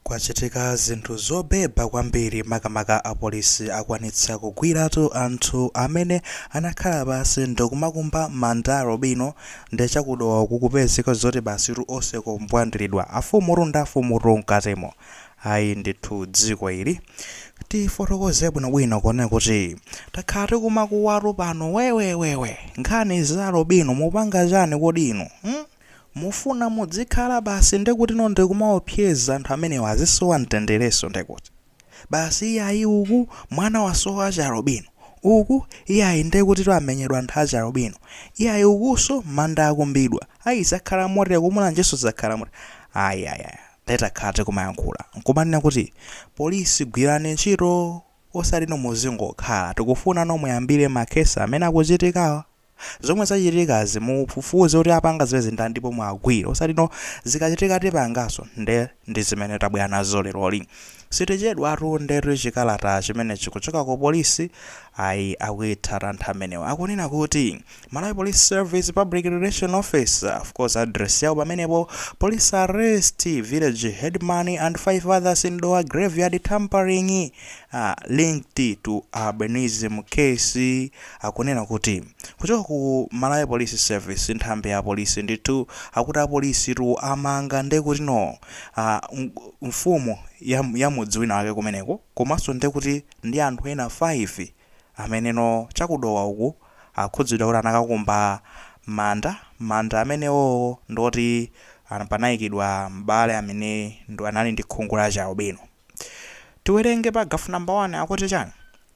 Kwachitika zinthu zobeba kwambiri makamaka apolisi akwanitsa kugwiratu anthu amene anakhala pansi ndikumakumba manda a alubino nde cha ku Dowa uku kupezeka zoti basitu onse kumbwandilidwa afumutu ndi afumutu mkatimo ayi ndithu dziko ili tifotokoze bwinobwino kunena kuti takhala tikumakuwatu pano wewewewe nkhani za alubino mupanga chani kodi inu hmm? Mufuna mudzikhala basi ndekutino ndikumaopseza anthu amenewa azisowa mtenderenso ndekut basi iyayi uku mwana wasowa wachialubino uku iyayi ndekutitu amenyedwa anthu achialubino iyayi ukunso manda akumbidwa ayi zakhala motere ku Mulanjenso zakhala motere ayi ayi ayi nde takhala tikumayankhula nkumanena kuti police gwirani ntchito osatino muzingokhala tikufunano muyambire ma case amene akuchitikawa zomwe zachitikazi mufufuze kuti apanga zimenezi ndani ndipo muwagwire osati no zikachitika tipangaso nde ndizimene tabwera nazo leroli sitichedwatu ndetu chikalata chimenechi kuchoka ku police ayi akuitha anthu amenewa akunena kuti Malawi Police Service Public Relation Office of course address yawo pamenepo police arrest village headman and five others in Dowa graveyard tampering uh, linked to albinism case akunena kuti kuchoka ku Malawi Police Service, nthambi ya polisi ndithu, akuti apolisi tu amanga nde kuti no aah mfumu ya ya mudzi wina wake kumeneko komanso nde kuti ndi anthu ena 5 amene no cha ku Dowa uku akhudzidwa kuti anakakumba manda, manda amene wo ndi oti an panayikidwa m'bale amene anali ndi khungu la chialubino. Tiwerenge paragraph number 1 akuti chani?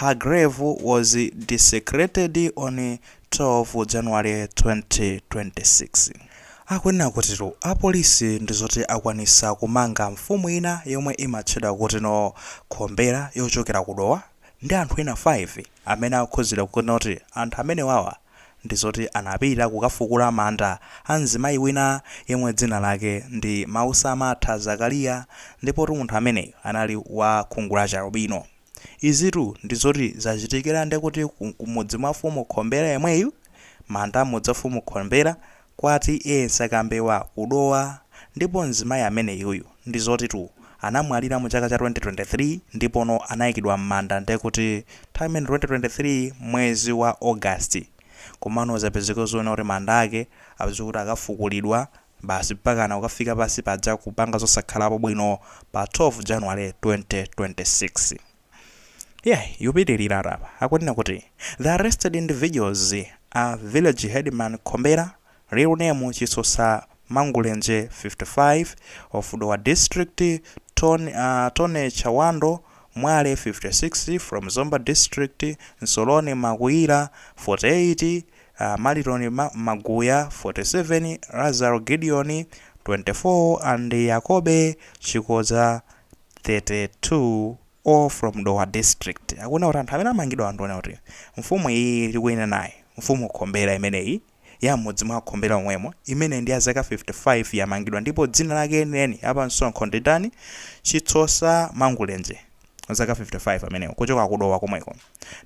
Her grave was desecrated on 12 January 2026. Akunena kutitu apolisi ndi zoti akwanisa kumanga mfumu ina yomwe imatchedwa kutino Khombera yochokera ku Dowa ndi anthu ena 5 amene akhuzidwa kunena kuti anthu amenewawa ndi zoti anapita kukafukula manda a mzimayi wina yemwe dzina lake ndi Mausamatha Zakariya ndipotu munthu ameneyu anali wa khungu la chialubino. Izitu ndi zoti zachitikira ndekuti ku mudzi mwa mfumu Khombera yemweyu, manda a m'mudzi wa mfumu Khombera, Kwa TA Nsakambewa ku Dowa ndipo mzimayi ameneyuyu ndi zotitu anamwalira mu chaka cha 2023 ndipono anayikidwa mmanda ndekuti nthawi imene 2023 mwezi wa August komano zapezeka zonena kuti manda ake apezeka kuti akafukulidwa basi mpakana kukafika pansi paja kupanga zosakhalapo bwino pa 12 January 2026. Yeah, yupitilira apa akunena kuti the arrested individuals are village headman Khombera, real name Chisusa Mangulenje 55 of Dowa district, Ton, uh, Tone Chawando Mwale 56 from Zomba district, Nsoloni Makuira 48, uh, Maliton Ma Maguya 47, Lazaro Gideon 24 and Yakobe Chikoza 32 all from Dowa district akunena kuti anthu amene amangidwawa anthu onena kuti mfumu iyiyi tikuinenayi, mfumu Khombera imeneyi ya m'mudzi mwa Khombera omwemo imeneyi ndi ya zaka 55 yamangidwa ndipo dzina lake lenileni la pa msonkho ndi ndani? Chitsosa Mangulenje wa zaka 55 ameneyo kuchoka ku Dowa komweko.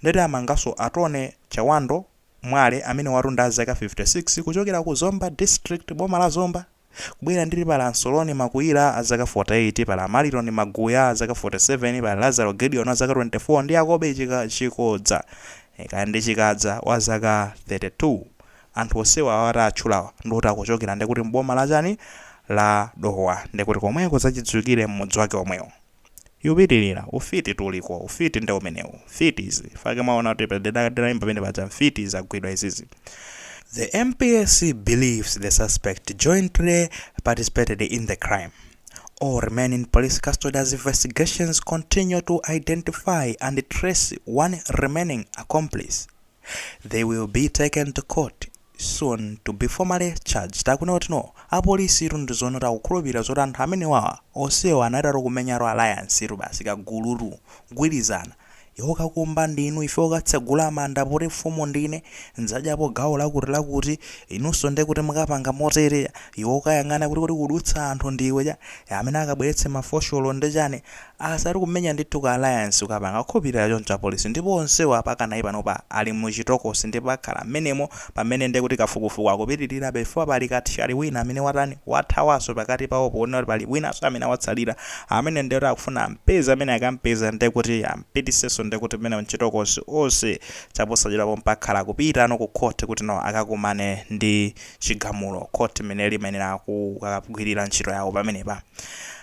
Nde ati amanganso a Tony Chawando Mwale amenewatu ndi a zaka 56 kuchokera ku Zomba district boma la Zomba. Kubwera ndiri pali a Nsoloni Makuira a zaka 48, pali a Mariloni Maguya a zaka 47, pali a Lazaro Gideon wa zaka 24 ndi Yakobe Chikodza, kaya ndi Chikadza, wa zaka 32. Anthu onsewa awa taatchulawa ndi oti akuchokera ndekuti m'boma la chani? la Dowa. Ndekuti komweko zachidziwikire m'mudzi wake omwewo. Ikupitilira, ufiti tu uliko, ufiti nde umenewu, mfiti izi, fake mwaona kuti ndidaimba pamene paja mfiti zagwidwa izizi. The MPS believes the suspects jointly participated in the crime. All remain in police custody as investigations continue to identify and trace one remaining accomplice. They will be taken to court soon to be formally charged akunena kuti no apolisitu ndizoona kuti akukhulupirira zoti anthu amenewawa onsewa anali ati kumenyatu alliance tu basi kagulutu kugwirizana iwe ukakumba ndinu iwe ukatsegula manda poti mfumu ndine ndzadyapo gawo lakuti lakuti inunso nde kuti mukapanga motere iwe ukayang'ana kuti kukudutsa anthu ndiwe cha amene akabweretse mafosholo nde chani Basi ati kumenya ndithu ka alliance kukapanga akukhulupilira choncho apolisi ndipo onsewo apakana panopa ali mu chitokosi ndipo akhala mmenemo pamene nde kuti kafukufuku akupitilirabe chifukwa pali kathyali wina amene watani wathawaso pakati pawo ponena kuti pali winaso amene watsalira amene nde kuti akufuna ampeze amene akampeza nde kuti ampitiseso nde kuti mmenemo m'chitokosi onse chaposachedwa pompa akhala kupita no ku court kuti no akakumane ndi chigamulo court mmene imayenera kukagwilira ntchito yawo pamenepa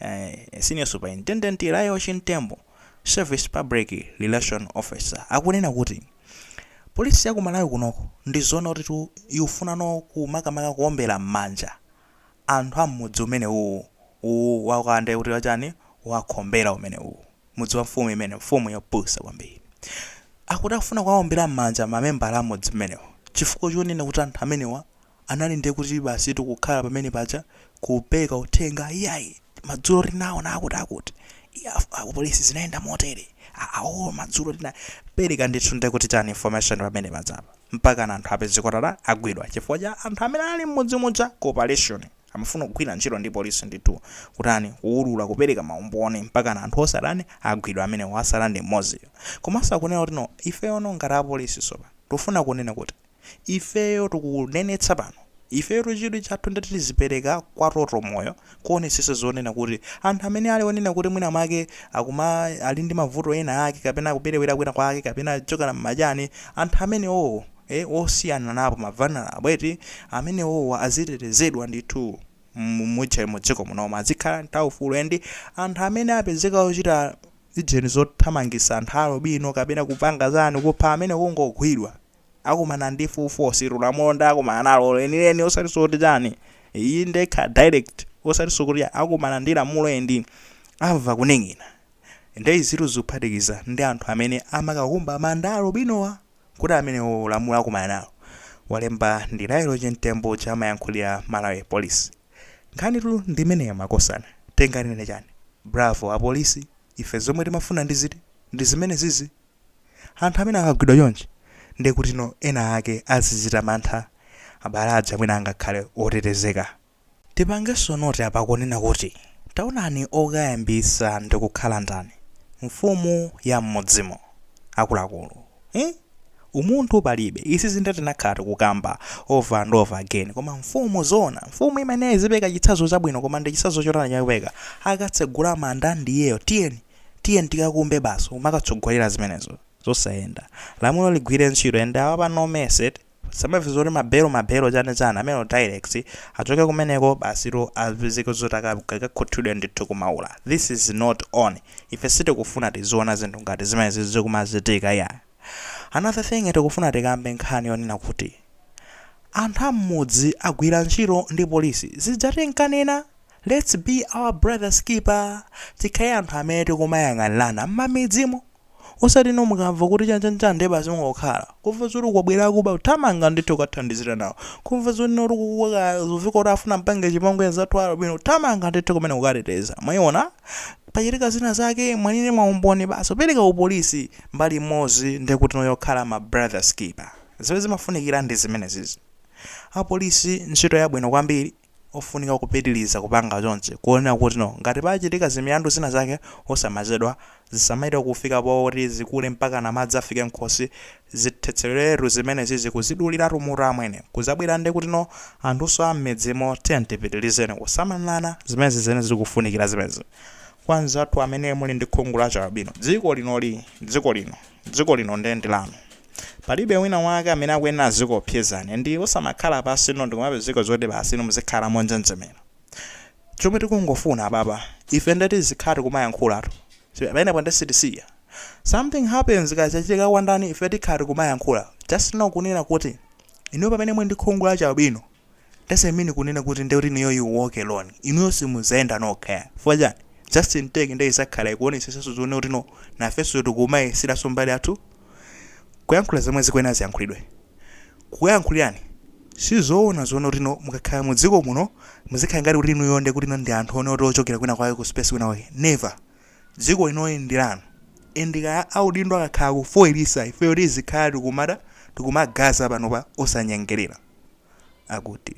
A senior superintendent Lael Chimtembo, Service Public Relations Officer, akunena kuti, Police ya ku Malawi kunoko ndizoona kuti tu ikufunano ku makamaka kuombera mmanja anthu a mmudzi umenewuwu uwu wa kwa nde kuti wachani wa Khombera umenewuwu mudzi wa mfumu imene mfumu yopusa kwambiri. Akuti akufuna kuwaombera mmanja mamembala a mmudzi mmenewu chifukwa chonena kuti anthu amenewa anali ndiye kuti basitu kukhala pamene paja kupeka uthenga iyayi madzulo tinaona akuti akuti iya apolisi zinayenda motere aa oo madzulo tina pereka ndithu ndiye kuti chani information pamene pajapa mpaka na anthu apezeka kuti ata- agwidwa chifukwa cha anthu amene anali m'mudzi muja cooperation amafuna kugwira ntchito ndi polisi ndithu kutani kuwulula kupereka maumboni mpaka na anthu onse atani agwidwa amene wasala ndi mmodziyo komanso akunena kuti no ifeyono ngati apolisi sopano tikufuna kunena kuti Ifeyo tikunenetsa pano, ifeyotu chidwi chathu ndichoti tizipereka kwa Total Moyo kuonetsetsa zonena kuti anthu amene ali onena kuti mwina mwake akuma, ali ndi mavuto ena ake kapena akuperewera kwina kwake kapena chokhala m'majani, anthu amenewowo e, osiyananapo ma vulnerable eti, amenewowa azitetezedwa ndithu mu, mujeni mu dziko munomu, azikhala ndi aufulu and anthu amene apezeka ochita ijeni zothamangitsa anthu a alubino kapena kupanga chani, kupha amene kungogwidwa. akumana ndi full force ilo lamulo ndiye akumana nalo lenileni osati zoti chani iyayi ndiye kaya direct osati zokuti akumana ndi lamulo and amva kuning'ina nde izitu zikuphatikiza ndi anthu amene amakakumba manda a alubinowa kuti amenewo lamulo akumana nalo walemba ndi layelo chimtembo amene amayankhulira malawi police nkhanitu ndimeneyo makosana tinganene chani bravo apolisi ife zomwe timafuna ndi ziti ndi zimenezizi Anthu amene akagwidwa chonchi ndiye kuti no ena ake azichita mantha, abale aja mwina angakhale otetezeka. Tipangenso note apa kunena kuti taonani okayambitsa ndikukhala ndani? Mfumu ya m'mudzimo. Akuluakulu. Iii! Umunthu palibe. Izizi ndiye tinakhala tikukamba over and over again. Koma mfumu zoona? Mfumu imayenera izipereka chitsazo chabwino koma ndi chitsazo chotani chakupereka? Akatsegula manda ndi iyeyo. Tiyeni! Tiyeni tikakumbe basi kumakatsogolera zimenezo zosayenda. Lamulo ligwire ntchito and apa no mercy eti tisamve zoti ma bail ma bail chani chani amenewo direct achoke kumeneko basitu apezeke zoti akakhuthulidwe ndithu ku Maula. This is not on. Ife sitikufuna tiziona zinthu ngati zimenezi zikumachitika iyayi. Another thing tikufuna tikambe nkhani yonena kuti anthu a mmudzi agwira ntchito ndi police zija tinkanena Let's be our brothers keeper tikhale anthu amene tikumayang'anirana mmamidzimu osati no mukamva kuti chanchanchani ndiye basi mungokhala kumva zoti kwabwera akuba kuthamanga ndithu kukathandizira nawo kumva zoti no akukuwa kwazovuta kuti afuna ampange chipongwe anzathu a albino kuthamanga ndithu kumene kukateteza mwayiona pachitika zina zake muli ndi maumboni basi kupereka kupolisi mbali imodzi ndiye kuti no yokhala ma brothers keeper zimene zimafunikira ndi zimenezizi apolisi ntchito yabwino kwambiri ofunika kupitiliza kupanga chonchi kuonera kuti no ngati pachitika zimilandu zina zake osamachedwa zisamachite kufika poti zikule mpakana madzi afike mkhosi zithetsereretu zimenezizi kuziduliratu mutu amwene kuzabwera ndekuti no anthunso ammidzimo tiyeni tipitilizeni kusamalilana zimenezi zimene zikufunikira zimenezi kwa nzathu amene muli ndi khungu la chialbino dziko linoli dziko lino Dziko lino nde ndi lanu. Palibe wina wake amene akuyenera azikuopsezani and osamakhala pansi ino ndikumapezeka zoti basi inu muzikhala monjenjemera. Chomwe tikungofuna apapa ife ndoti tizikhala tikumayankhulatu. Pamenepo nde sitisiya. Something happens kaya chachitika kwa ndani ife tikhala tikumayankhula just know kunena kuti inuyo pamene muli ndi khungu la chi albino, doesn't mean kunena kuti nde kuti inuyo you walk alone inuyo simuzayenda nokha yah chifukwa chani Justin Take nde izakhala ikuonetsetsanso zoona kuti inu nafenso tikumayesiranso mbali yathu kuyankhula zomwe zikuyenera ziyankhulidwe kukuyankhulirani sizoona zoona kuti inu mukakhala mu dziko muno muzikhala ngati kuti inuyo nde kuti inu ndi anthu ena oti ochokera kwina kwake ku space kwina kwake never Dziko inoli ndi lanu and kaya audindo akakhala kufoilitsa ifeyo tizikhala tikumada tikumagaza panopa osanyengelera. Akuti.